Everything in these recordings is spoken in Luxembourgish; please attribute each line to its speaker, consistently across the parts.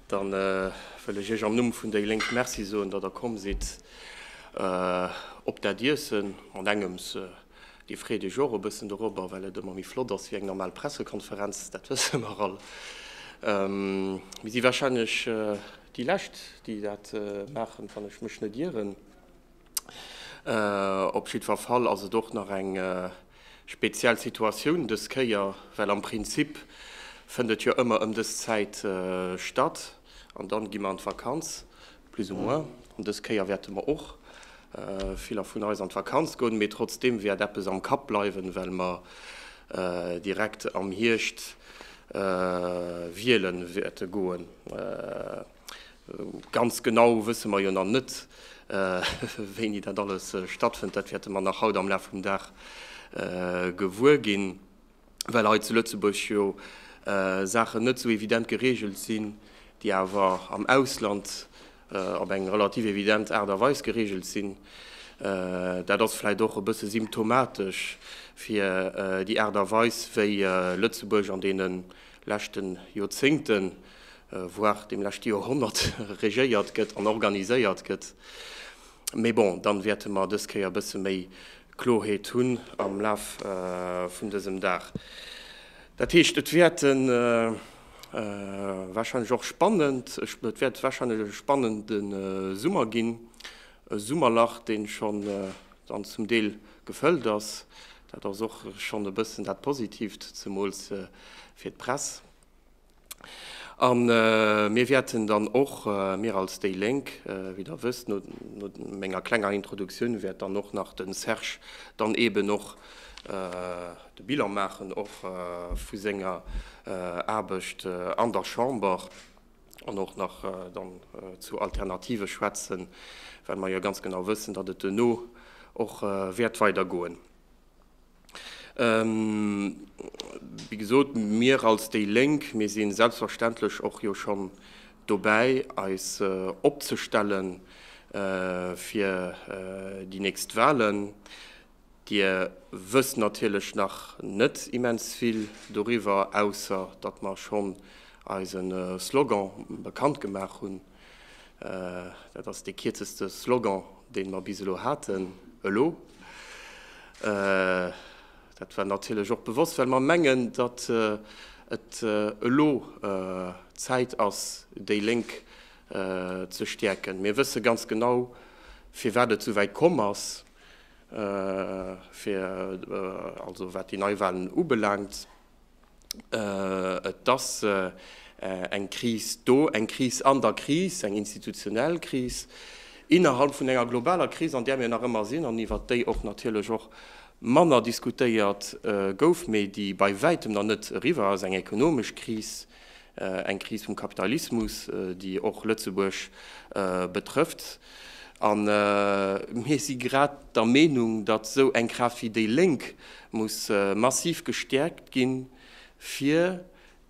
Speaker 1: Dann wëll ech Iech am Numm vun déi Lénk Merci soen, datt Der komm sidd op dat Iessen. An engems, Dir freet Iech och e bëssen dorobber, well et ëmmer méi flott ass wéi eng normal Pressekonferenz, dat wësse mer all. Mir si warscheinlech déi Lescht, déi dat maachen, wann ech mech net ieren. Op jiddwer Fall ass et och nach eng speziell Situatioun dës Kéier, well am Prinzip fënnt et jo ëmmer ëm dës Zäit statt an dann gi mer an d'Vakanz, plus ou moins. An dës Kéier wäerte mer och, viller vun eis, an d'Vakanz goen, mee trotzdeem wäert eppes am Kapp bleiwen, well mer direkt am Hierscht wiele wäerte goen. Ganz genau wësse mer jo nach net, wéini dat alles stattfënnt. Dat wäerte mer nach haut am Laf vum Dag gewuer ginn, well hei zu Lëtzebuerg jo Saachen net esou evident gereegelt sinn, déi awer am Ausland op eng relativ evident Aart a Weis gereegelt sinn. Dat ass vläicht och e bësse symptomatesch fir déi Aart a Weis, wéi Lëtzebuerg an deene leschten Joerzéngte voire dem leschte Joerhonnert, regéiert gëtt an organiséiert gëtt. Mee bon, dann wäerte mer dës Kéier e bësse méi Kloheet hunn am Laf vun dësem Dag. Dat heescht, et wäerte warscheinlech och spannend, et wäert warscheinlech e spannende Summer ginn, e Summerlach, dee schonn dann zum Deel gefëllt ass. Dat ass och schonn e bëssen dat Positiivt, zemools fir d'Press. A mir wäerten dann och, mir als déi Lénk, wéi Der wësst, no menger klenger Introduktioun wäert dann och nach de Serge dann eeben och de Bilan maachen och vu senger Aarbecht an der Chamber an och nach dann zu Alternative schwätzen, well mer jo ganz genau wëssen, datt et duerno och wäert weidergoen. Wéi gesot, mir als déi Lénk, mir si selbstverständlech och jo schonn dobäi eis opzestelle fir déi nächst Wahlen. Dir wësst natierlech nach net immens vill doriwwer, ausser datt mer schonn eise Slogan bekannt gemaach hunn. Dat ass dee kierzeste Slogan, dee mer bis elo haten. Elo, dat war natierlech och bewosst, well mer mengen, datt et elo Zäit ass, déi Lénk ze stäerken. Mir wësse ganz genau, firwat et souwäit komm ass, also wat déi Neiwahlen ubelaangt. Et ass eng Kris do, eng Kris an der Kris, eng institutionell Kris innerhalb vun enger globaler Kris, an där mir nach ëmmer sinn an iwwert déi och natierlech och manner diskutéiert gouf, mee déi bei Wäitem nach net eriwwer ass, eng ekonomesch Kris. Eng Kris vum Kapitalismus, déi och Lëtzebuerg betrëfft. A mir si grad der Meenung, datt esou eng Kraaft wéi déi Lénk muss massiv gestäerkt ginn, fir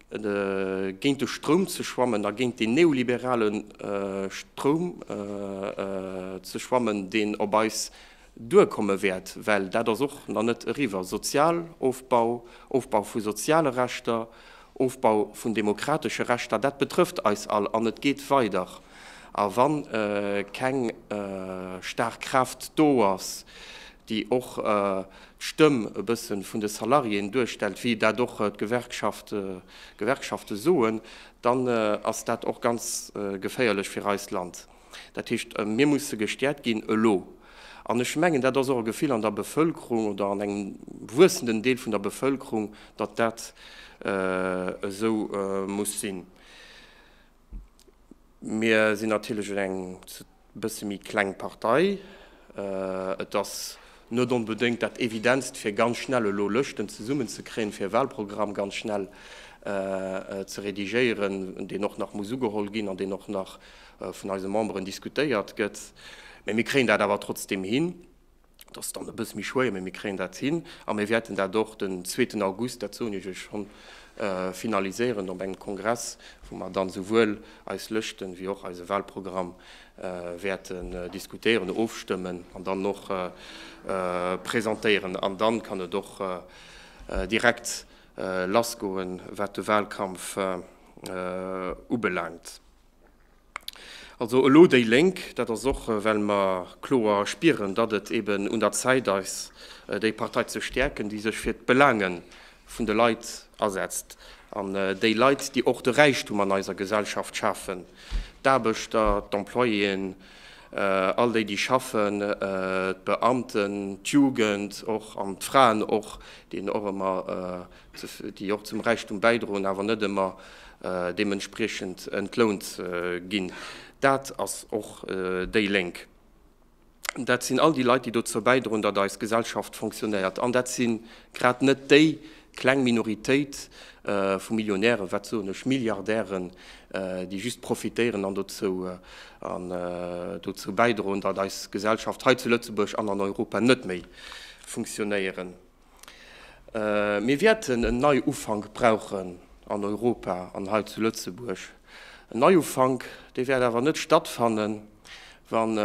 Speaker 1: géint de Stroum ze schwammen a géint deen neoliberale Stroum ze schwammen, deen op eis duerkomme wäert, well dat ass och nach net eriwwer, Sozialofbau, Ofbau vu soziale Rechter, Ofbau vun demokratesche Rechter, dat betrëfft eis all an et geet weider. A wa keng staark Kraaft do ass, déi och d'Stëmm e bësse vun de Salariéen duerstellt, wéi dat och d'Gewerkschafte soen, dann ass dat och ganz geféierlech fir eist Land. Dat heescht, mir musse gestäerkt ginn elo. An ech mengen, dat ass och e Gefill an der Bevëlkerung oder an engem wuessenden Deel vun der Bevëlkerung, datt dat esou muss sinn. Mir sinn natierlech eng bësse méi kleng Partei. Et ass net onbedéngt dat Evidentst, fir ganz schnell elo Lëschten zesummenzekréien, fir e Wahlprogramm ganz schnell ze redigéieren, deen och nach muss ugeholl ginn an deen och nach vun eise Memberen diskutéiert gëtt, mä mir kréien dat awer trotzdeem hin, et ass dann e bësse méi schwéier, mä mir kréien dat hin a mir wäerten dat och den zweeten August, dat soen ech lech schonn, finaliséieren op engem Kongress, wou mer dann esouwuel eis Lëschten wéi och eise Wahlprogramm wäerten diskutéieren, ofstëmmen an dann och presentéieren. An dann kann et och direkt lassgoen, wat de Wahlkampf ubelaangt. Also elo déi Lénk. Dat ass och, well mer kloer spieren, datt et eben un der Zäit ass, déi Partei ze stäerken, déi sech fir d'Belange vun de Leit asetzt. An déi Leit, déi och de Räichtum an eiser Gesellschaft schafen, d'Aarbechter, d'Employéen, all déi, déi schaffen, d'Beamten, d'Jugend och an d'Fraen och, déi een och ëmmer, déi och zum Räichtum bäidroen, awer net ëmmer deementspriechend entlount ginn, dat ass och déi Lénk. Dat sinn all déi Leit, déi dozou bäidroen, datt eis Gesellschaft fonctionnéiert. An dat si grad net déi kleng Minoritéit vu Millionären, wat soen ech, Milliardären, déi just profitéieren an dozou bäidroen, datt eis Gesellschaft hei zu Lëtzebuerg an an Europa net méi fonctionnéieren. Mir wäerten en Neiufank brauchen an Europa an hei zu Lëtzebuerg. En Neiufank, dee wäert awer net stattfannen, wann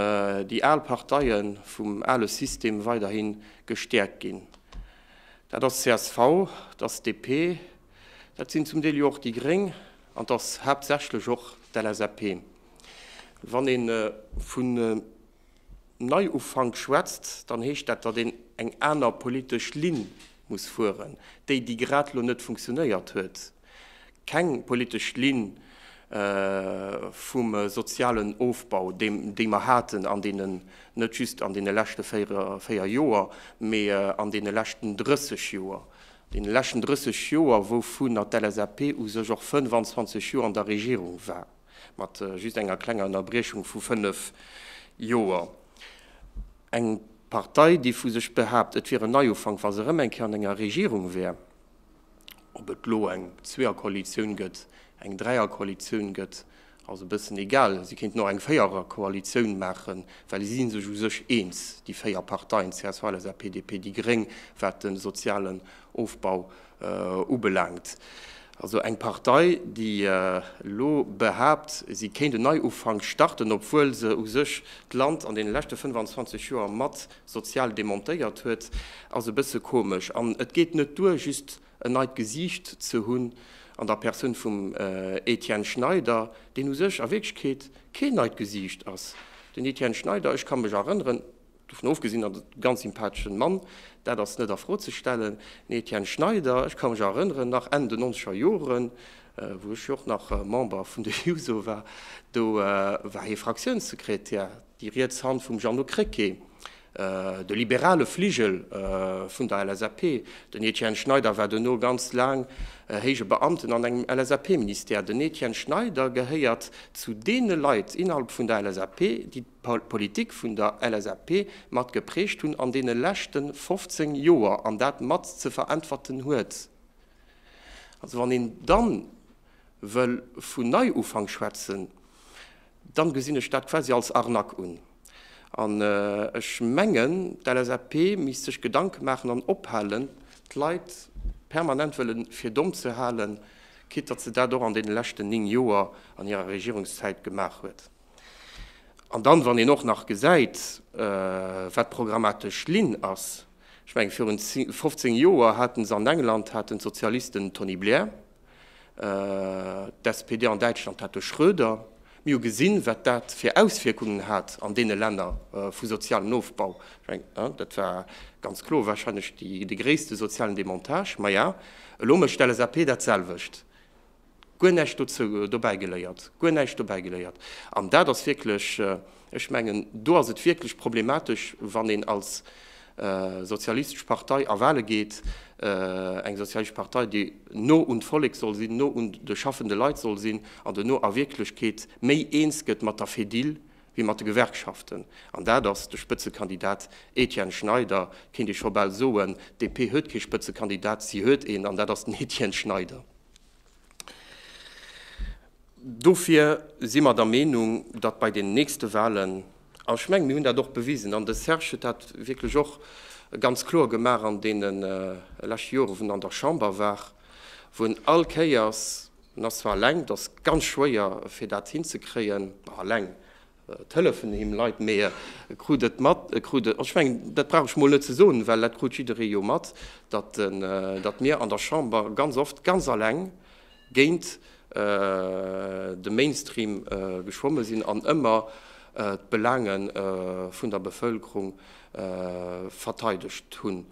Speaker 1: déi al Parteie vum ale System weiderhi gestäerkt ginn. Dat ass csv, dat ass DP, dat sinn zum Deel jo och déi Gréng an dat ass haaptsächlech och d'LSAP. Wann ee vun. Neiufank schwätzt, dann heescht dat, datt een eng aner politesch Linn muss fueren, déi, déi grad elo net funktionéiert huet, keng politesch Linn vum sozialen Ofbau, déi mer haten an deene, net just an deene leschte véier Joer, mee an deene leschten 30 Joer, deene leschten 30 Joer, wouvunner d'LSAP u sech och 25 Joer an der Regierung war. Mat just enger klenger Ënnerbriechung vu fënnef Joer. Eng Partei, déi vu sech behaapt, et wier en Neiufank, wa se erëm eng Kéier an enger Regierung wär. Ob et elo eng Zweeërkoalitioun gëtt, eng Dräierkoalitioun gëtt, ass e bëssen egal. Si kéinten och eng Véiererkoalitioun maachen, well si si sech u sech eens, déi véier Parteien, csv, LSAP, DP, déi Gréng, wat de sozialen Ofbau Ubelaangt. Also eng Partei, déi elo behaapt, si kéint en Neiufank starten, obwuel se u sech d'Land an deene leschte 25 Joer mat sozial demontéiert huet, ass e bësse komesch. An et geet net duer, just en neit Gesiicht ze hunn an der Persoun vum Etienne Schneider, deen u sech a Wierklechkeet keen neit Gesiicht ass. Den Etienne Schneider, ech ka mech erënneren, Dovun ofgesinn ass et e ganz sympatheschen Mann, dat ass net a Fro ze stellen. Den Etienne Schneider, ech ka mech erënneren, nach Enn den nonzeger Joren, wou ech jo och nach Member vun der Juso war, do war hie Fraktiounssekretär, déi riets Hand vum Jeannot Krecké, de liberale Fligel vun der LSAP. Den Etienne Schneider war duerno ganz laang héije Beamten an engem LSAP-Ministère. Den Etienne Schneider gehéiert zu deene Leit innerhalb vun der LSAP, déi Politik vun der LSAP mat geprägt hunn an deene leschte 15 Joer an dat mat ze veräntwerten huet. Also wann een dann wëll vun Neiufank schwätzen, dann gesinn ech dat quasi als Arnaque un. An ech mengen d'LSAP misst sech Gedanken maachen an ophalen d'Leit permanent wëllen fir domm ze halen, quitte datt se dat och an deene leschten 9 Joer an hirer Regierungszäit gemaach huet. An dann, wann een och nach gesäit, wat d'programmatesch Linn ass, ech mengen, virun 15 Joer hate se an England haten d'Sozialisten den Tony Blair, d'SPD an Däitschland hat de Schröder. Mir hu gesinn, wat dat fir Auswierkungen hat an deene Länner vu sozialen Ofbau. Ech mengen, dat war ganz kloer warscheinlech de gréisste sozialen Demontage. Maja, elo mécht d'LSAP dat selwecht. Guer näischt dozou dobäi geléiert, guer näischt dobäi geléiert. An dat ass wierklech, ech mengen, do ass et wierklech problematesch, wann een als sozialistesch Partei a Wahle geet, eng sozialistesch Partei, déi no un d'Vollek soll sinn, no un de schaffende Leit soll sinn an dono a Wierklechkeet méi eens gëtt mat der Fedil wéi mat de Gewerkschaften. An dat ass de Spëtzekandidat Etienne Schneider, kéint ee scho bal soen. D'DP huet kee Spëtzekandidat, si huet een, an dat ass den Etienne Schneider. Dofir si mer der Meenung, datt bei den nächste Wahlen, a ech menge mir hunn dat och bewisen, an de Serge huet dat wierklech och ganz kloer gemaach an deene leschte Jore wou en an der Chamber war, wou en all Kéiers En ass zwar eleng, et ass ganz schwéier fir dat hinzekréien, eleng, et hëllefen him Leit, mee e krut et mat, e krut et, ech mengen, dat brauch ech mol net ze soen, well dat krut jidderee jo mat, datt mir an der Chamber ganz oft ganz eleng géint de Mainstream geschwomme sinn an ëmmer d'Belaange vun der Bevëlkerung verteidegt hunn.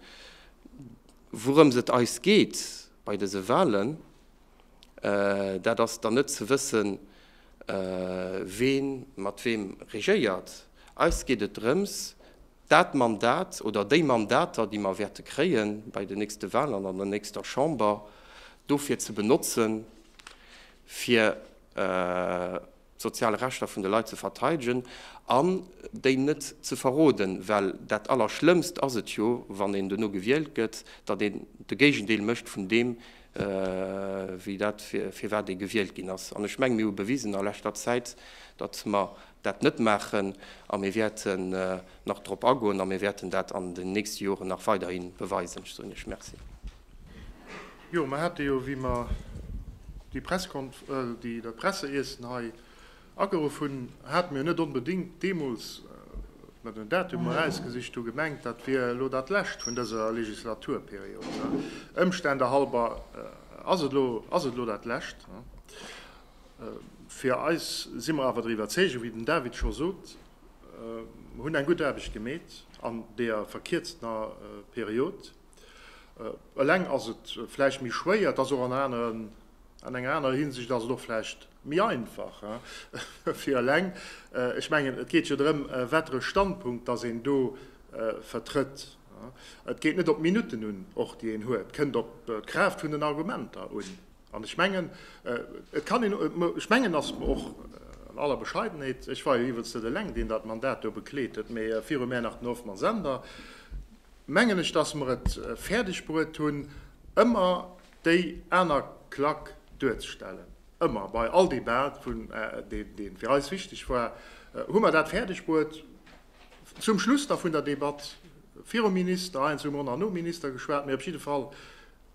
Speaker 1: Wourëms et eis geet bei dëse Wahlen, dat ass dann net ze wëssen, wee mat weem regéiert. Eis geet et drëms, dat Mandat oder déi Mandater, déi mer wäerte kréie bei den nächste Wahlen an der nächster Chamber, dofir ze benotzen, fir d'sozial Rechter vun de Leit ze verteidegen an déi net ze verroden, well dat Allerschlëmmst ass et jo, wann een duerno gewielt gëtt, datt een de Géigendeel mécht vun deem, wéi dat, firwat ee gewielt ginn ass. An ech mengen, mir hu bewisen a leschter Zäit, datt mer dat net maachen, a mir wäerten nach drop agoen a mir wäerten dat an den nächste Joren nach weiderhi beweisen. Ech soen Iech Merci.
Speaker 2: Jo, mer hate jo, wéi mer déi Presskonf, déi, dat Presseiessen hei ageruff hunn, hate mer jo net onbedéngt deemools, wéi mer den Datum erausgesicht hu gemengt, dat wier elo dat Lescht vun dëser Legislaturperiod. Ëmstände halber ass et elo, ass et elo dat Lescht. Fir eis, si mer awer der Iwwerzeegung, wéi den David scho sot, mer hunn eng gutt Aarbecht gemeet an deeër verkierztener Period, Eleng ass et vläicht méi schwéier, et ass och an aneren, an enger anerer Hinsicht ass et och vläicht méi einfach fir eleng. Ech mengen, et geet jo drëm, wattere Standpunkt datt een do vertrëtt. Et geet net op d'Minutten un och, déi een huet, et kënnt op d'Kraaft vun den Argumenter un. An ech mengen, et kann een, ech mengen, datt mer och an aller Bescheidenheet, ech war jo iwwels net eleng, deen dat Mandat do bekleet huet, mee viru mär nach den Hoffmann Sender, mengen ech, dass mer et fäerdeg bruet hunn, ëmmer déi aner Klack duerzestellen. Ëmmer bei all Debat, vun dee fir eis wichteg war, hu mer dat fäerdeg bruet, zum Schluss da vun der Debatt, virum Minister, heiansdo hu mer och nach nom Minister geschwat, mee op jidde Fall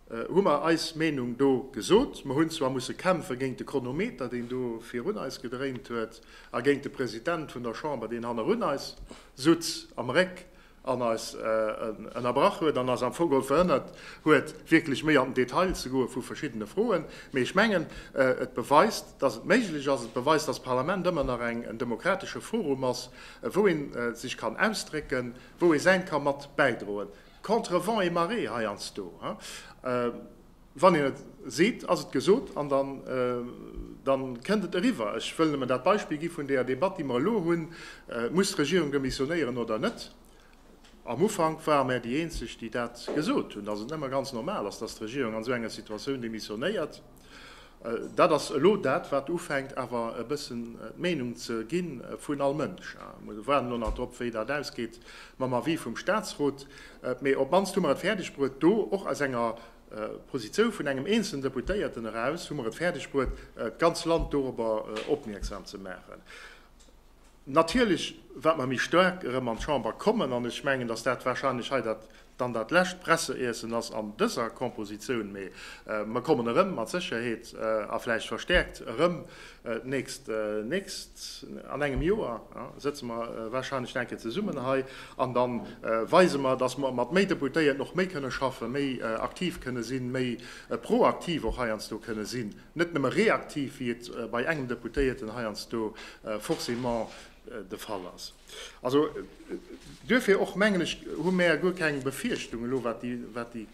Speaker 2: hu mer eis Meenung do gesot. Mer hunn zwar musse kämpfe géint de Chronometer, deen do virun eis gedréint huet, a géint de President vun der Chamber, deen hannerun eis sutz, am Réck an eis ënnerbrach huet an eis am Fong geholl verhënnert huet, wierklech méi an den Detail ze goe vu verschiddene Froen. Mee ech mengen, et beweist, dass et méiglech ass. Et beweist, dass d'Parlament ëmmer nach en demokratesche Forum ass, wou ee sech kann ausdrécken, wou ee säint ka mat bäidroen, contre vent et marée heiansdo. Wann een et seet, ass et gesot an da kënnt et eriwwer. Ech wëll nëmmen dat Beispill gi vun deeër Debatt, déi mer elo hunn, Muss d'Regierung demissionéieren oder net? Am Ufank ware mer déi Eenzeg, déi dat gesot hunn, datt et nëmme ganz normal ass, datt d'Regierung an esou enger Situatioun demissionéiert. Dat ass elo dat, wat ufänkt awer e bëssen d'Meenung ze gi vun all Mënsch. Mir waarden elo nach drop, wéi dat ausgeet mam Avis vum Statsrot. Mee op d'mannst hu mer et fäerdegbruet do, och aus enger Positioun vun engem eenzelnen Deputéierten eraus, hu mer et fäerdegbruet, d'ganz Land dorobber opmierksam ze maachen. Natierlech, wat mer méi staark erëm an d'Chamber kommen, an ech mengen, datt dat warscheinlech hei dat Dann dat lescht Presseiessen ass an dëser Kompositioun, mee mer kommen erëm mat Sécherheet a vläicht verstäerkt erëm d'nächst, nächst, an engem Joer sëtze mer warscheinlech nach eng Kéier zesummen hei an da weise mer, dass mer mat méi Deputéierten och méi kënne schaffen, méi aktiv kënne sinn, méi proaktiv och heiansdo kënne sinn, net nëmme reaktiv, wéi et bei engem Deputéierten heiansdo forcément de Fall ass. Also duerfir och, mengen ech, hu mäer guer keng Befierchtung elo, wat déi, wat déi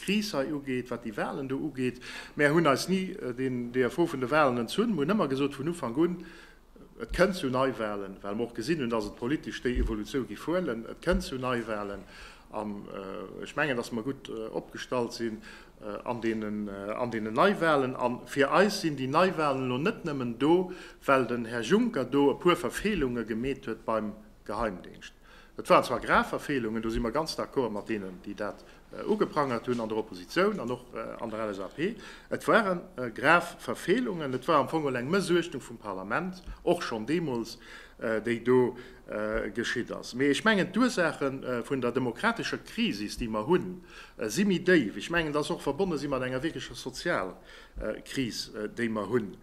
Speaker 2: Kris hei ugeet, wat déi Wahlen do ugeet. Mäer hunn eis ni den DFO vun de Wahlen entzunn. Mer hunn ëmmer gesot vun Ufank un, Et kënnt zu Neiwahlen, well mer och gesinn hunn, dass et politesch déi Evolution géif huelen. Et kënnt zu Neiwahlen. An ech mengen, dass mer gutt opgestallt sinn an deenen Neiwahlen. A fir eis sinn déi Neiwahlen elo net nëmmen do, well den Här Juncker do e puer Verfeelunge gemeet huet beim Geheimdingscht. Et waren zwar grav Verfeelungen, do si mer ganz d'accord mat deenen, déi dat ugeprangert hunn an der Opposition an och an der LSAP. Et ware grav Verfeelungen. Et war am Fong elo eng Mëssuechtung vum Parlament, och schonn deemools, déi do geschitt ass. Mee ech mengen, d'Ursaache vun der demokratescher Krisis, déi mer hunn, si méi déif. Ech mengen, dass och verbonne si mat enger wierklecher Sozialkris, déi mer hunn.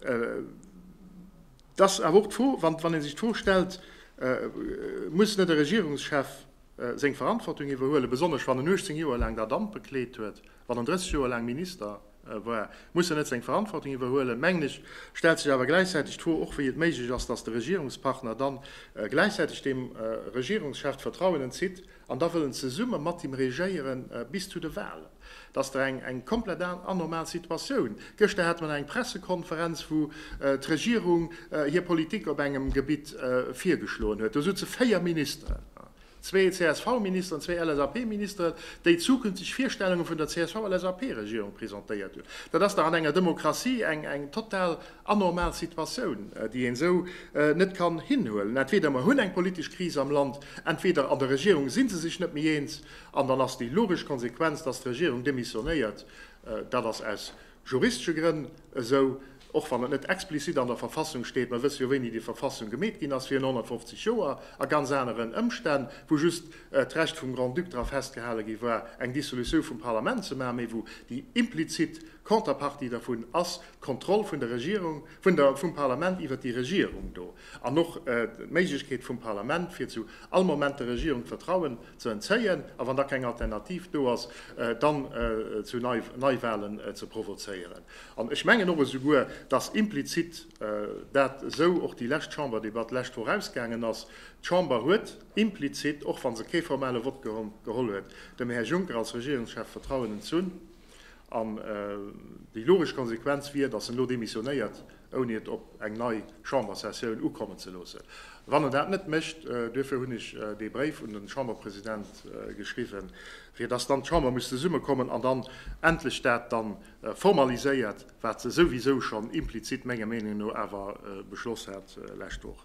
Speaker 2: Et ass awer och d'Fro, wann ee sech d'Fro stellt, Muss net e Regierungschef seng Verantwortung iwwerhuelen, besonnesch wann en 18 Joer laang dat Amt bekleet huet? Wann en 30 Joer laang Minister war, muss en net seng Verantwortung iwwerhuelen. Mengen ech, stellt sech awer gläichzäiteg d'Fro och, wéi et méiglech ass, datt de Regierungspartner dann gläichzäiteg dem Regierungschef d'Vertrauen entzitt an da wëllen zesumme mat him regéieren bis zu de Wahlen. Dat ass dach eng komplett anormal Situatioun. Gëschter hate mer nach eng Pressekonferenz, wou d'Regierung hir Politik op engem Gebitt virgeschloen huet. Do soutze véier Ministeren. Zwee CSV-Ministeren an zwee LSAP-Ministeren, déi zukünfteg Virstellunge vun der CSV-LSAP-Regierung presentéiert hunn. Dat ass dach an enger Demokratie eng total anormal Situatioun, déi een esou net kann hinhuelen. Entweder mer hunn eng politesch Kris am Land, entweder an der Regierung si se sech net méi eens, an dann ass déi logesch Konsequenz, datt d'Regierung demissionéiert. Dat ass aus juristesche Grënn esou, och wann et net explizit an der Verfassung steet, mer wësse jo wéini déi Verfassung gemeet ginn ass, virun 150 Joer, a ganz aneren Ëmstänn, wou just d'Recht vum Grand-Duc dra festgehale gi war, eng Dissolutioun vum Parlament ze maachen, mä wou déi implizit Contrepartie dervun ass d'Kontroll vun der Regierung. Vun der, vum Parlament iwwert déi Regierung do, an och d'Méiglechkeet vum Parlament, fir zu all Moment der Regierung d'Vertrauen ze entzéien, a wann da keng Alternativ do ass, dann zu Neiwahlen ze provozéieren. An ech mengen och esouguer, dass implizit dat esou och déi lescht Chamberdebatt d'lescht Woch ausgaangen ass, D'Chamber huet implizit, och wa se kee formale Vott geholl huet, dem Här Juncker als Regierungschef Vertrauen entzunn. An déi logesch Konsequenz wier, datt en elo demissionéiert, ouni et op eng nei Chambersessioun ukommen ze loossen, wann en dat net mécht. Duerfir hunn ech dee Bréif un de Chamberpresident geschriwwen, fir datt dann d'Chamber muss zesummekommen an dann endlech dat da formaliséiert, wat se souwisou schonn implizit menger Meenung no awer beschloss hat lescht Woch.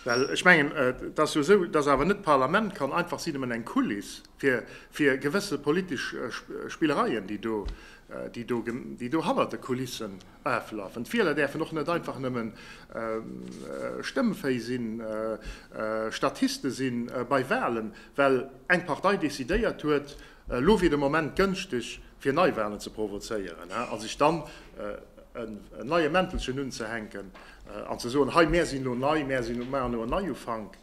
Speaker 2: Well ech mengen, et ass jo esou, dass awer net d'Parlament kann einfach si nëmmen eng Kuliss fir gewësse politesch Spillereien, déi do hannert de Kulissen aflafen. D'Wieler däerfen och net einfach nëmme Stëmmféi sinn, Statiste si bei Wahlen, well eng Partei decidéiert huet, Elo wier de Moment gënschteg, fir Neiwahlen ze provozéieren a sech dann en neie Mäntelchen unzehänken an ze soen, hei mär sinn elo nei, mär maachen elo en Neiufank.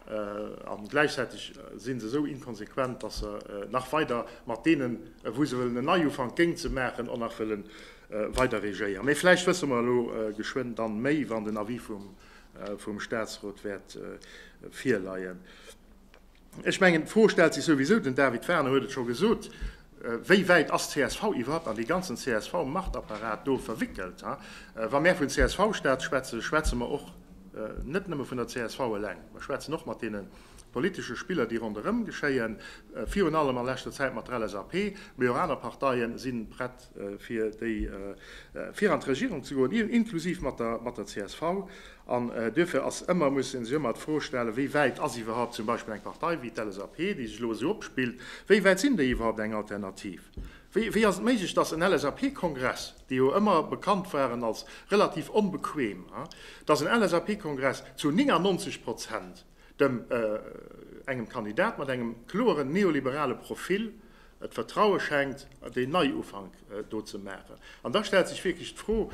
Speaker 2: A gläichzäiteg si se esou inkonsequent, datt se nach weider mat deenen, wou se wëllen en Neiufank géing ze maachen, och nach wëlle weider regéieren. Mee vläicht wësse mer elo geschwënn dann méi, wann den Avis vum Statsrot wäert virleien. Ech mengen, d'Fro stellt sech souwisou, den David Wagner huet et scho gesot, Wéi wäit ass csv iwwerhaupt an dee ganzen CSV-Machtapparat do verwickelt? Wa mär vun CSV-Staat schwätzen, schwätze mer och net nëmme vun der csv eleng. Mer schwätzen och mat deene politesche Spiller, déi ronderëm geschéien, virun allem a leschter Zäit mat der LSAP, mee och aner Parteie si prett, fir déi fir an d'Regierung ze goen, inklusiv mat der csv. An duerfir ass ëmmer, muss ee sech ëmmer d'Fro stellen, wéi wäit ass iwwerhaupt zum Beispill eng Partei wéi d'LSAP, déi sech elo esou opspillt, wéi wäit sinn déi iwwerhaupt eng Alternativ? Wéi ass et méiglech, dass en LSAP-Kongress, déi jo ëmmer bekannt waren als relativ onbequem, dass en LSAP-Kongress zu 99 Prozent, dem engem Kandidat mat engem kloeren neoliberale Profil d'Vertraue schenkt, deen Neiufank do ze maachen. An da stellt sech wierklech d'Fro,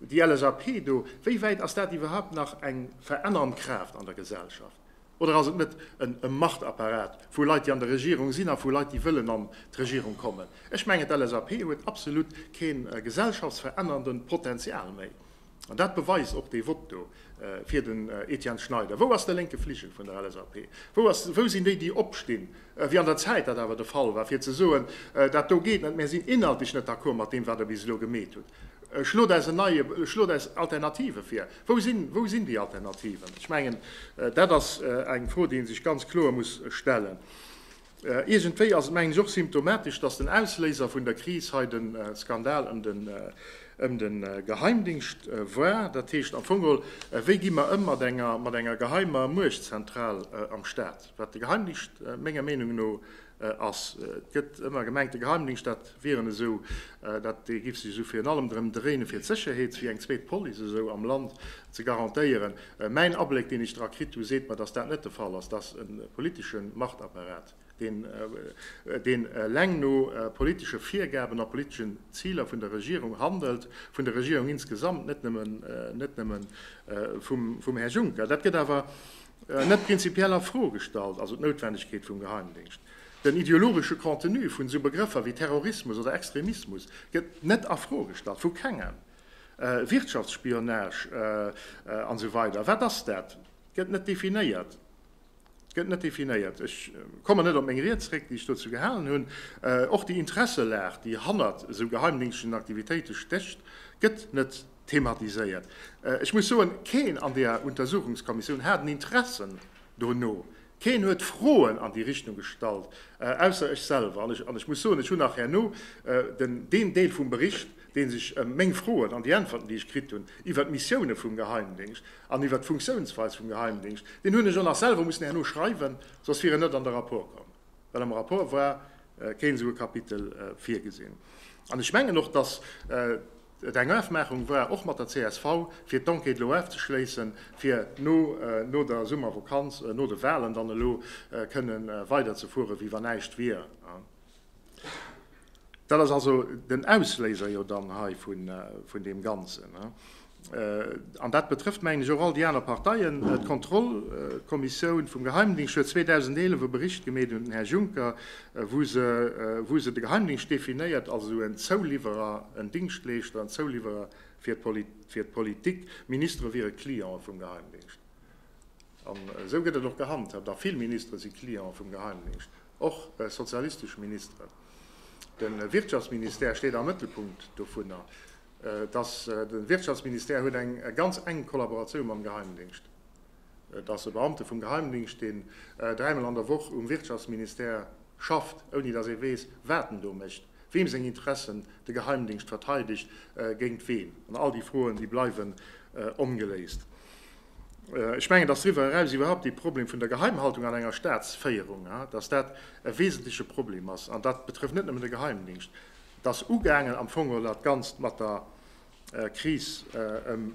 Speaker 2: déi LSAP do, wéi wäit ass dat iwwerhaupt nach eng verännerend Kraaft an der Gesellschaft? Oder ass et net e Machtapparat vu Leit, déi an der Regierung sinn a vu Leit, déi wëllen an d'Regierung kommen? Ech mengen, d'LSAP huet absolut kee gesellschaftsverännerende Potenzial méi. An dat beweist och dee Vott do fir den Etienne Schneider. Wou ass de lénke Fligel vun der LSAP? Wou sinn déi, déi opstinn, wéi an der Zäit dat awer de Fall war, fir ze soen, dat do geet net, mär sinn inhaltlech net d'accord mat deem, wat Der bis elo gemeet hutt, ech lod eis en neie, ech lod eis Alternative vir? Wou sinn, wou sinn déi Alternativen? Ech mengen, dat ass eng Fro, déi ee sech ganz kloer muss stellen. Iergendwéi ass et mengen ech och symptomatesch, datt den Ausléiser vun der Kris hei de Skandal ëm de Geheimdingscht war. Dat heescht am Fong geholl, wéi gi mer ëm mat enger geheimer Muechtzentral am Staat, wat de Geheimdingscht menger Meenung no ass. Et gëtt ëmmer gemengt, de Geheimdingscht, dat wieren esou, dee géif sech esou virun allem drëm dréinen, fir d'Sécherheet, wéi eng zweet Police esou am Land ze garantéieren. Mäin Abléck, deen ech dra kritt hu, seet mer, dass dat net de Fall ass, dass e politesche Machtapparat, deen eleng no politesche Virgaben a politesche Ziler vun der Regierung handelt, vun der Regierung insgesamt, net nëmme vum Här Juncker. Dat gëtt awer net prinzipiell a Fro gestallt, also d'Noutwendegkeet vum Geheimdéngscht. Den ideologesche Contenu vun esou Begrëffer wéi Terrorismus oder Extremismus gëtt net a Fro gestallt, vu kengem. Wirtschaftsspionage an esou weider, wat ass dat? Gëtt net definéiert. Gëtt net definéiert. Ech kommen net op meng Ried zréck, déi ech dozou gehalen hunn. Och déi Interesselag, déi hannert esou geheimdéngschtlechen Aktivitéite stécht, gëtt net thematiséiert. Ech muss soen, keen an där Untersuchungskommissioun hat en Interessen dono, Keen huet Froen an déi Richtung gestallt, ausser ech selwer. An ech muss soen, ech hunn nach herno deen Deel vum Bericht, dee sech ëm meng Froen an déi Äntwerten, déi ech kritt hunn iwwert d'Missioune vum Geheimdéngscht an iwwert d'Funktiounsweis vum Geheimdéngscht, deen hunn ech och nach selwer mussen herno schreiwen, soss wier en net an de Rapport komm, well am Rapport war keen esou e Kapitel virgesinn. An ech mengen och, dass. Eng Ofmaachung war och mat der csv, fir d'Enquête elo ofzeschléissen, fir no der Summervakanz, no de Wahlen dann elo kënnen weiderzefuere wéi wann näischt wier. Dat ass also den Ausléiser jo dann hei vun deem Ganzen. An dat betrëfft, mengen ech, och all déi aner Parteien. D'Kontrollkommissioun vum Geheimdingscht huet 2011 e Bericht gemeet un den Här Juncker, wou se de Geheimdingscht definéiert als esou en Zouliwwerer, en Dingschtleeschter, en Zouliwwerer fir d'Politik. Ministere wiere Cliente vum Geheimdingscht. An esou gëtt et och gehandhaabt. A vill Ministere si Cliente vum Geheimdingscht, och sozialistesch Ministeren. De Wirtschaftsministère steet am Mëttelpunkt dovunner. De Wirtschaftsministère huet eng ganz enk Kollaboratioun mam Geheimdingscht. Et ass e Beamte vum Geheimdingscht, deen dräimol an der Woch um Wirtschaftsministère schafft, ouni datt ee weess, wat en do mécht, weem seng Interessen de Geheimdingscht verteidegt, géint ween. An all déi Froen, déi bleiwen ongeléist. Ech mengen, datt driwwer eraus iwwerhaupt dee Problem vun der Geheimhaltung an enger Staatsféierung, datt dat e wesentleche Problem ass, an dat betrëfft net nëmmen de Geheimdingscht, et ass ugaangen am Fong oder dat Ganzt mat der Kris ëm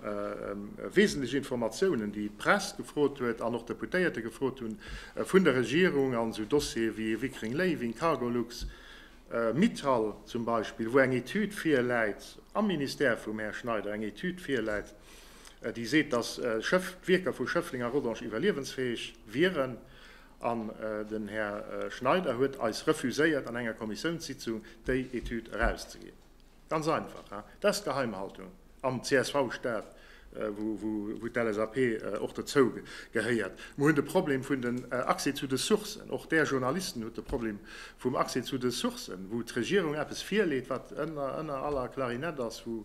Speaker 2: wesentlech Informatiounen, déi d'Press gefrot huet an och Deputéierte gefrot hunn, vun der Regierung an esou Dossiere wéi Wickering Léiwing, Cargolux, Mittal zum Beispill, wou eng Etüd virläit am Ministère vum Här Schneider, eng Etüd virläit, déi seet, datt d'Wierker vu Schëffleng a Rodange iwwerliewensfäeg wieren. An den Här Schneider huet eis refuséiert, an enger Kommissiounssitzung déi Etüd erauszeginn. Ganz einfach, hein? Dat ass d'Geheimhaltung am CSV-Staat, wou d'LSAP och dozou gehéiert. Mer hunn de Problem vun den Accès zu de Sourcen. Och Där Journalisten hutt de Problem vum Accès zu de Sourcen, wou d'Regierung eppes virleet, wat ënner aller Klarinett ass, wou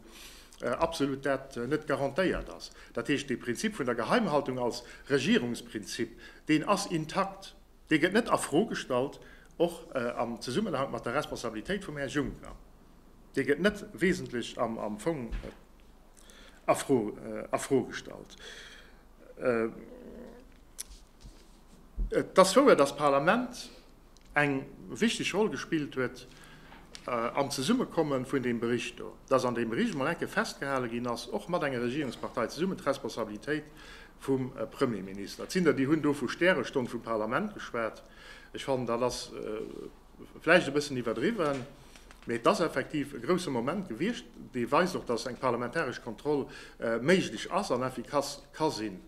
Speaker 2: absolut dat net garantéiert ass. Dat heescht, de Prinzip vun der Geheimhaltung als Regierungsprinzip, deen ass intakt. Dee gëtt net a Fro gestallt, och am Zesummenhank mat der Responsabilitéit vum Här Juncker. Dee gëtt net wesentlech am Fong a Fro gestallt. Et ass wouer, dass d'Parlament eng wichteg Roll gespillt huet am Zesummekomme vun deem Bericht do, dass an deem Bericht emol eng Kéier festgehale ginn ass, och mat enger Regierungspartei zesummen, d'Responsabilitéit vum Premierminister. Et sinn der, déi hunn do vu Stärestonn vum Parlament geschwat. Ech fannen, dat ass vläicht e bëssen iwwerdriwwen, mee et ass effektiv e grousse Moment gewiescht, dee weist och, datt eng parlamentaresch Kontroll méiglech ass an effikass ka sinn.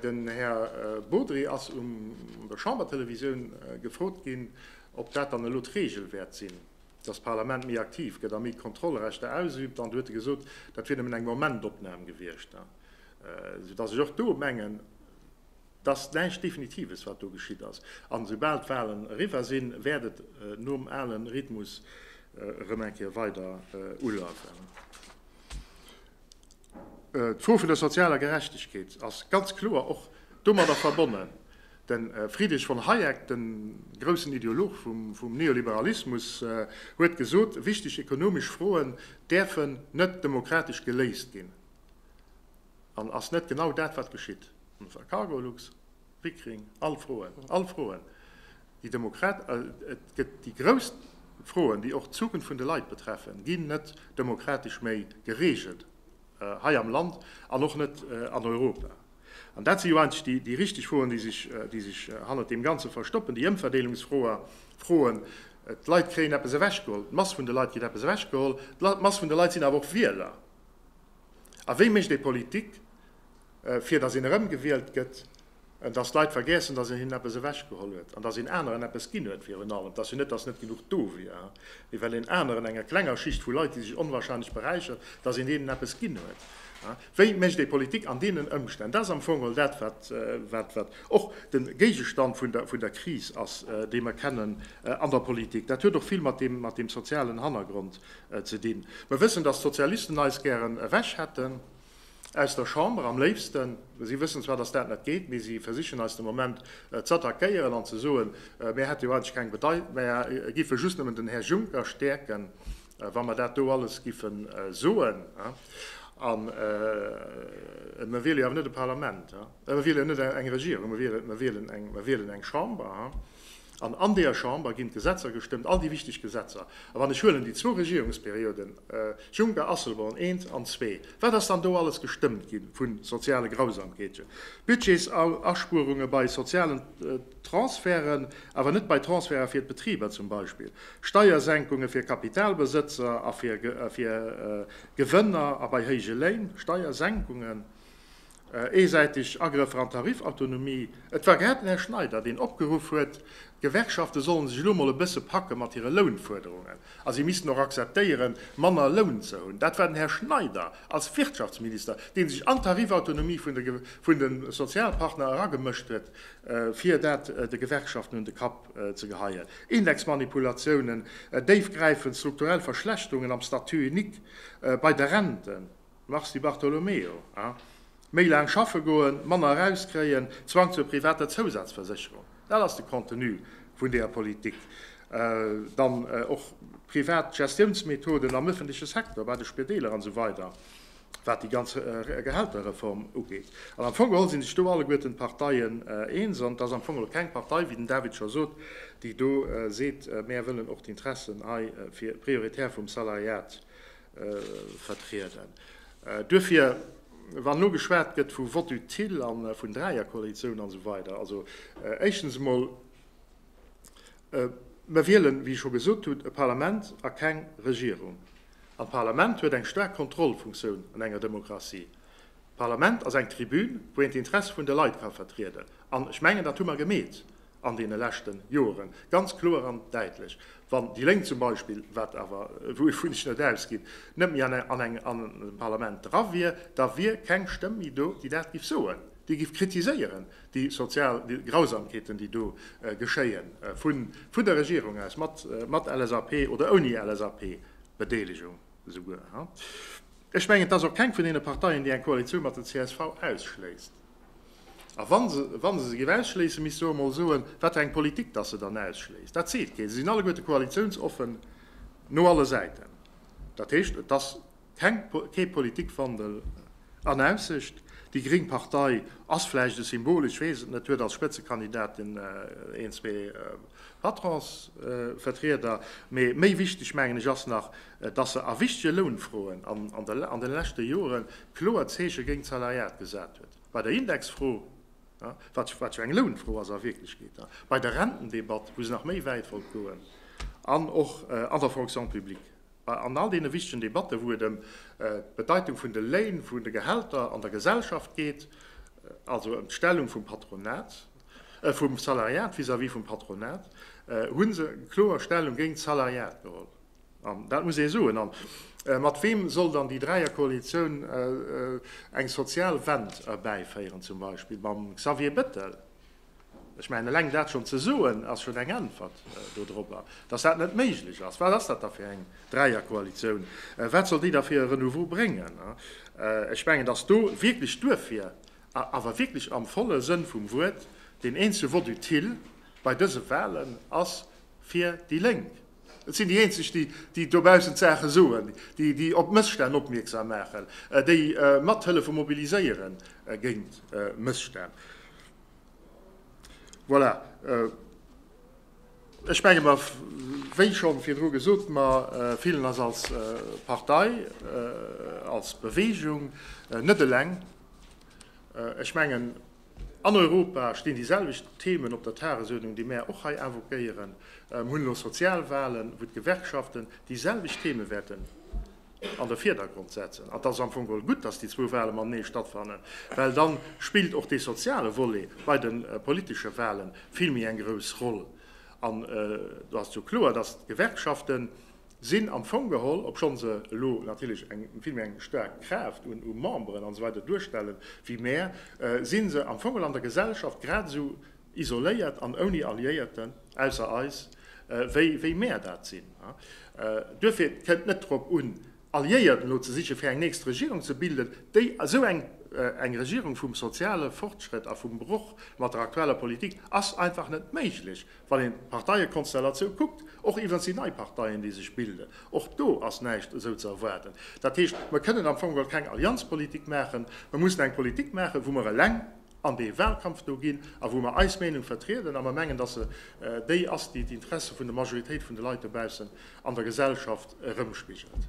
Speaker 2: Den Här Bodry ass un der Chambertelevisioun gefrot ginn, ob dat dann elo d'Reegel wäert sinn, datt d'Parlament méi aktiv gëtt a méi Kontrollrechter ausüübt, an do huet e gesot, dat wier nëmmen eng Momentopnam gewiescht. Soudass ech och do mengen, et ass näischt Definitives, wat do geschitt ass. A soubal d'Wahlen eriwwer sinn, wäert et nom ale Rhythmus erëm eng Kéier weider ulafen. D'Fro vun der sozialer Gerechtegkeet ass ganz kloer och domadder verbonnen. De Friedrich von Hayek, de groussen Ideolog vum Neoliberalismus, huet gesot, wichteg ekonomesch Froen däerfen net demokratesch geléist ginn. An ass net genau dat, wat geschitt? D'Msra, Cargolux, Pickering, all Froen, all Froen, déi Demokrat, et gëtt déi grouss Froen, déi och d'Zukunft vun de Leit betreffen, ginn net demokratesch méi geregelt hei am Land an och net an Europa. An dat si jo eigentlech déi richteg Froen, déi sech hannert deem Ganze verstoppen, déi Ëmverdeelungsfroen. D'Leit kréien eppes ewechgeholl, d'Mass vun de Leit kritt eppes ewechgeholl. D'Mass vun de Leit sinn awer och Wieler. A wéi mécht ee Politik, fir datt een erëmgewielt gëtt? Datt d'Leit vergiessen, datt een hinnen eppes ewechgeholl huet an datt een aneren eppes ginn huet. Virun allem datt se net, datt net genuch do wier, mee well een aneren, enger klenger Schicht vu Leit, déi sech onwahrscheinlech beräichert, datt een deenen eppes ginn huet. Wéi mécht ee Politik an deenen Ëmstänn? Dat ass am Fong geholl dat, wat och de Géigestand vun der Kris ass, déi mer kennen an der Politik. Dat huet och vill mat deem sozialen Hannergrond Ze dinn. Mer wëssen, dass d'Sozialisten eis gären ewech hätten aus der Chamber, am léifsten. Si wëssen zwar, dass dat net geet, mee si versichen eis de Moment z'attackéieren an ze soen, mär hätte jo eigentlech keng Bedei, mär giffe just nëmmen den Här Juncker stäerken, wa mer dat do alles giffe soen. An mer wiele jo awer net e Parlament, mer wiele jo net eng Regierung, mer wielen eng Chamber. An an deeër Chamber ginn d'Gesetzer gestëmmt, all déi wichteg Gesetzer. A wann ech huelen déi zwou Regierungsperioden, Juncker, Asselborn, eent an zwee, wat ass dann do alles gestëmmt ginn vu soziale Grausamkeeten, Budgetsauspuerungen bei sozialen Transferten, awer net bei Transferten fir d'Betriber zum Beispill, Steiersenkungen fir Kapitalbesëtzer a fir Gewënner a bei héije Léin, Steiersenkungen. Eesäiteg Agrëffer an d'Tarifautonomie. Et war grad den Här Schneider, deen opgeruff huet, d'Gewerkschafte sollen sech elo emol e bësse packe mat hire Lounfuerderungen a si missten och akzeptéiere manner Loun ze hunn. Dat war den Här Schneider als Wirtschaftsminister, dee sech an d'Tarifautonomie vun de Sozialpartner eragemëscht huet, fir dat de Gewerkschaften un de Kapp ze geheien. Indexmanipulatiounen, déifgräifend strukturell Verschlechterungen am Statut unique bei de Renten. Mars Di Bartolomeo, A, Méi laang schaffe goen, manner erauskréien, Zwang zur privater Zousazversécherung, dat ass de Contenu vun deeër Politik. Dann och privat Gestiounsmethoden am ëffentleche Secteur, bei de Spideeler an esou weider, wat déi ganz Gehälterreform ugeet. An am Fong geholl si sech do alleguerten d'Parteien eens. An et ass am Fong elo keng Partei, wéi den David scho sot, déi do seet, Mäer wëllen och d'Interessen hei fir prioritär vum Salariat Vertrieden. Duerfir, wann elo geschwat gëtt vu Vote utile a vun Dräierkoalitioun an esou weider, also éischtens emol, Mer wielen, wéi ech scho gesot hunn, e Parlament a keng Regierung. An d'Parlament huet eng staark Kontrollfunktioun an enger Demokratie. D'Parlament ass eng Tribün, wou een d'Interesse vun de Leit ka vertrieden. An ech mengen, dat hu mer gemeet an deene leschte Joeren, ganz kloer an däitlech, wann déi Lénk zum Beispill, wat awer, wouvun ech net ausginn, net méi an engem Parlament dra wier, da wier keng Stëmm méi do, déi dat giff soen, déi giff kritiséieren, déi sozial Grausamkeeten, déi do geschéien, vun der Regierung aus, mat LSAP oder ouni LSAP-Bedeelegung esouguer. Ech mengen, et ass och keng vun deene Parteien, déi eng Koalitioun mat der csv ausschléisst. A wa se, wa se se géif ausschléissen, misst se och emol soen, wat fir eng Politik datt se dann ausschléisst. Dat seet keen. Se sinn alleguerte koalitiounsoffen no alle Säiten. Dat heescht, et ass keng, kee Politikwandel an Aussicht. Déi gréng Partei ass vläicht e Symbol, ech weess et net, huet als Spëtzekandidatin een, zwee Patronsvertrieder, mee méi wichteg, mengen ech, ass nach, dass se a wichtege Lounfroen an den leschte Joren kloer Zeeche géint d'Salariat gesat huet, bei der Indexfro, wat jo eng Lounfro ass a Wierklechkeet, bei der Rentendebatt, wou se nach méi wäit wollt goen, an och an der Fonction publique, an all deene wichtegen Debatten, wou et ëm d'Bedeitung vun de Léin, vun de Gehälter an der Gesellschaft geet, also ëm d'Stellung vum Patronat, vum Salariat vis-à-vis vum Patronat, hu se kloer Stellung géint d'Salariat geholl. An dat muss ee soen. An mat weem soll dann déi Dräierkoalitioun eng sozial Wend erbäiféieren? Zum Beispill mam Xavier Bettel? Ech mengen, eleng dat schonn ze soen, ass schonn eng Äntwert do drobber, dass dat net méiglech ass. Wat ass dat da fir eng Dräierkoalitioun? Wat soll déi da fir e Renouveau bréngen? Ech mengen, dass do wierklech duerfir, awer wierklech am volle Sënn vum Wuert, deen eenzege Vote utile bei dëse Wahlen ass, fir déi Lénk. Et sinn déi eenzeg, déi dobaussen d'Saache soen, déi op Mësstänn opmierksam maachen, déi mathëllefe mobiliséiere géint Mësstänn. Voilà, ech menge mer, wéi schonn virdru gesot, mer fillen eis als Partei, als Beweegung net eleng. Ech mengen, An Europa stinn déi selwecht Themen op der Tagesuerdnung, déi mär och hei invoquéieren. Mir hunn elo Sozialwahlen, wou d'Gewerkschaften déi selwecht Themen wäerten an de Virdergrond setzen. An et ass am Fong geholl gutt, dass déi zwou Wahle matenee stattfannen, well da spillt och dee soziale Volet bei de politesche Wahlen vill méi eng grouss Roll. An do ass jo kloer, dass d'Gewerkschaften sinn am Fong geholl, obschonn se elo natierlech eng vill méi eng staark Kraaft un u Memberen an esou weider duerstellen wéi mär, si se am Fong geholl an der Gesellschaft grad esou isoléiert an ouni Alliéierten, ausser eis, wéi wéi mär dat sinn. Duerfir, et kënnt net drop un, Alliéiert elo ze sichen, fir eng nächst Regierung ze bilden, déi esou eng, eng Regierung vum soziale Fortschrëtt a vum Broch mat der aktueller Politik ass einfach net méiglech, Wann een d'Parteiekonstellatioun kuckt, och iwwrens déi nei Parteien, déi sech bilden, och do ass näischt esou ze erwaarden. Dat heescht, mer kënnen am Fong geholl keng Allianzpolitik maachen. Mer mussen eng Politik maachen, wou mer eleng an dee Wahlkampf do ginn a wou mer eis Meenung vertrieden a mer mengen, datt se déi ass, déi d'Interesse vun der Majoritéit vun de Leit dobaussen an der Gesellschaft erëmspigelt.